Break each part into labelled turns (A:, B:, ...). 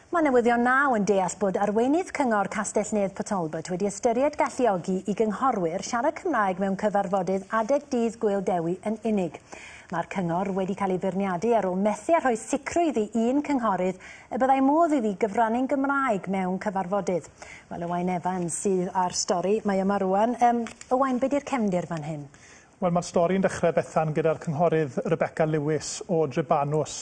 A: Mae Newyddion Now yn deall bod arweinydd Cyngor Castell-nedd Port Talbot wedi ystyried galluogi i gynghorwyr siarad Cymraeg mewn cyfarfodydd adeg Dydd Gŵyl Dewi yn unig. Mae'r cyngor wedi cael ei feirniadu ar ôl methu â rhoi sicrwydd i un cynghorydd y byddai modd iddi gyfrannu'n Gymraeg mewn cyfarfodydd. Wel, Owain Evans sydd â'r stori. Mae yma rwan. Um, Owain, be di'r cefndir fan hyn? Wel, mae'r stori yn
B: dechrau, Bethan, gyda'r Cynghorydd Rebecca Lewis o Drebanws.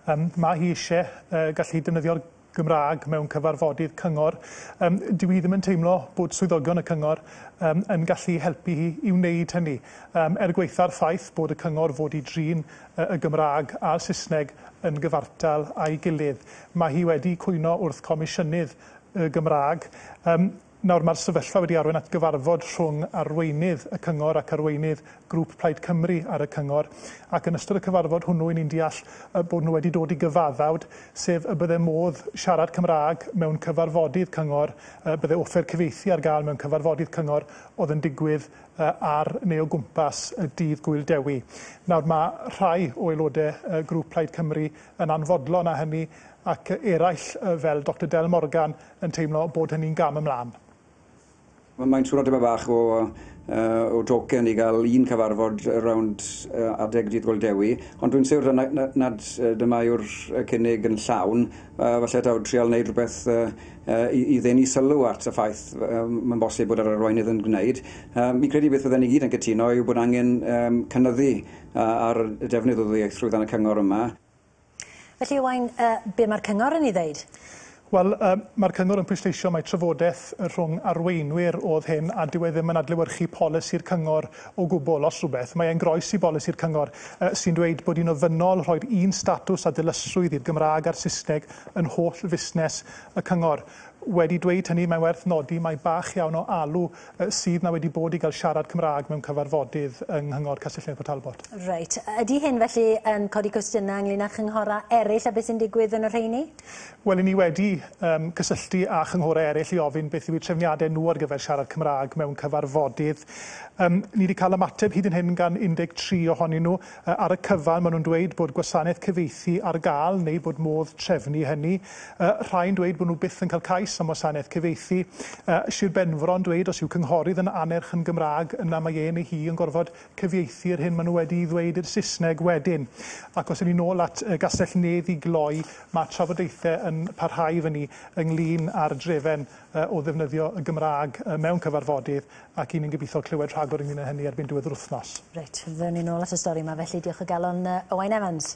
B: Yym, mae hi eisiau yy gallu defnyddio'r Gymraeg mewn cyfarfodydd cyngor. Yym, dyw hi ddim yn teimlo bod swyddogion y cyngor yym, yn gallu helpu hi i wneud hynny. Yym, er gwaetha'r ffaith bod y cyngor fod i drin yy y Gymraeg a'r Saesneg yn gyfartal â'i gilydd, mae hi wedi cwyno wrth Comisiynydd y Gymraeg. Yym, Nawr, mae'r sefyllfa wedi arwain at gyfarfod rhwng arweinydd y cyngor ac arweinydd grŵp Plaid Cymru ar y cyngor, ac yn ystod y cyfarfod hwnnw, 'y ni'n deall y bod nhw wedi dod i gyfaddawd, sef y bydde modd siarad Cymraeg mewn cyfarfodydd cyngor, y bydde offer cyfieithu ar gael mewn cyfarfodydd cyngor oedd yn digwydd ar neu o gwmpas y dydd Gŵyl Dewi. Nawr, mae rhai o aelodau grŵp Plaid Cymru yn anfodlon â hynny, ac eraill, fel Doctor Del Morgan, yn teimlo bod hynny'n gam ymlaen.
C: Mae'n swno tipyn bach o o joken i gael un cyfarfod rownd adeg Dydd Gŵyl Dewi, ond dwi'n siwr nad dyma yw'r cynnig yn llawn. Falle taw trial wneud rhywbeth i i ddenu sylw at y ffaith mae'n bosib bod yr arweinydd yn gwneud. Fi'n credu beth fydden ni gyd yn cytuno yw bod angen cynyddu ar y defnydd o ddwyieithrwydd yn y cyngor yma. Felly,
A: Owain, be mae'r cyngor yn ei ddeud? Wel,
B: mae'r cyngor yn pwysleisio mai trafodaeth rhwng arweinwyr oedd hyn a dyw e ddim yn adlewyrchu polisi'r cyngor o gwbl. Os rhywbeth, mae e'n groes i bolisi'r cyngor sy'n dweud bod hi'n ofynnol rhoi'r un statws a dilysrwydd i'r Gymraeg a'r Saesneg yn holl fusnes y cyngor. Wedi dweud hynny, mae'n werth nodi mai bach iawn o alw sydd 'na wedi bod i gael siarad Cymraeg mewn cyfarfodydd yng Nghyngor Castell-nedd Port Talbot. Reit. Ydy hyn felly
A: yn codi cwestiynau ynglŷn â chynghorau eraill a beth sy'n digwydd yn y rheini? Wel, 'yn ni wedi
B: yym cysylltu â chynghorau eraill i ofyn beth yw eu trefniadau nhw ar gyfer siarad Cymraeg mewn cyfarfodydd. Yym ni 'di cael ymateb hyd yn hyn gan 13 ohonyn nhw. Ar y cyfan, maen nhw'n dweud bod gwasanaeth cyfieithu ar gael neu bod modd trefnu hynny. Rhai'n dweud bod nhw byth yn cael cais am wasanaeth cyfieithu. Sir Benfro'n dweud os yw cynghorydd yn annerch yn Gymraeg, yna mae e neu hi yn gorfod cyfieithu yr hyn maen nhw wedi'i ddweud i'r Saesneg wedyn. Ac os ewn ni nôl at Gastell Nedd i gloi, mae trafodaethau yn parhau efo ni ynglŷn â'r drefen o ddefnyddio y Gymraeg mewn cyfarfodydd. Ac i ni'n gobeithio clywed rhagor ynglŷn â hynny erbyn
A: diwedd yr wythnos. Reit,
B: ddylen
A: ni nôl
B: at y
A: stori 'ma
B: felly.
A: Diolch o
B: galon, yy,
A: Owain
B: Evans.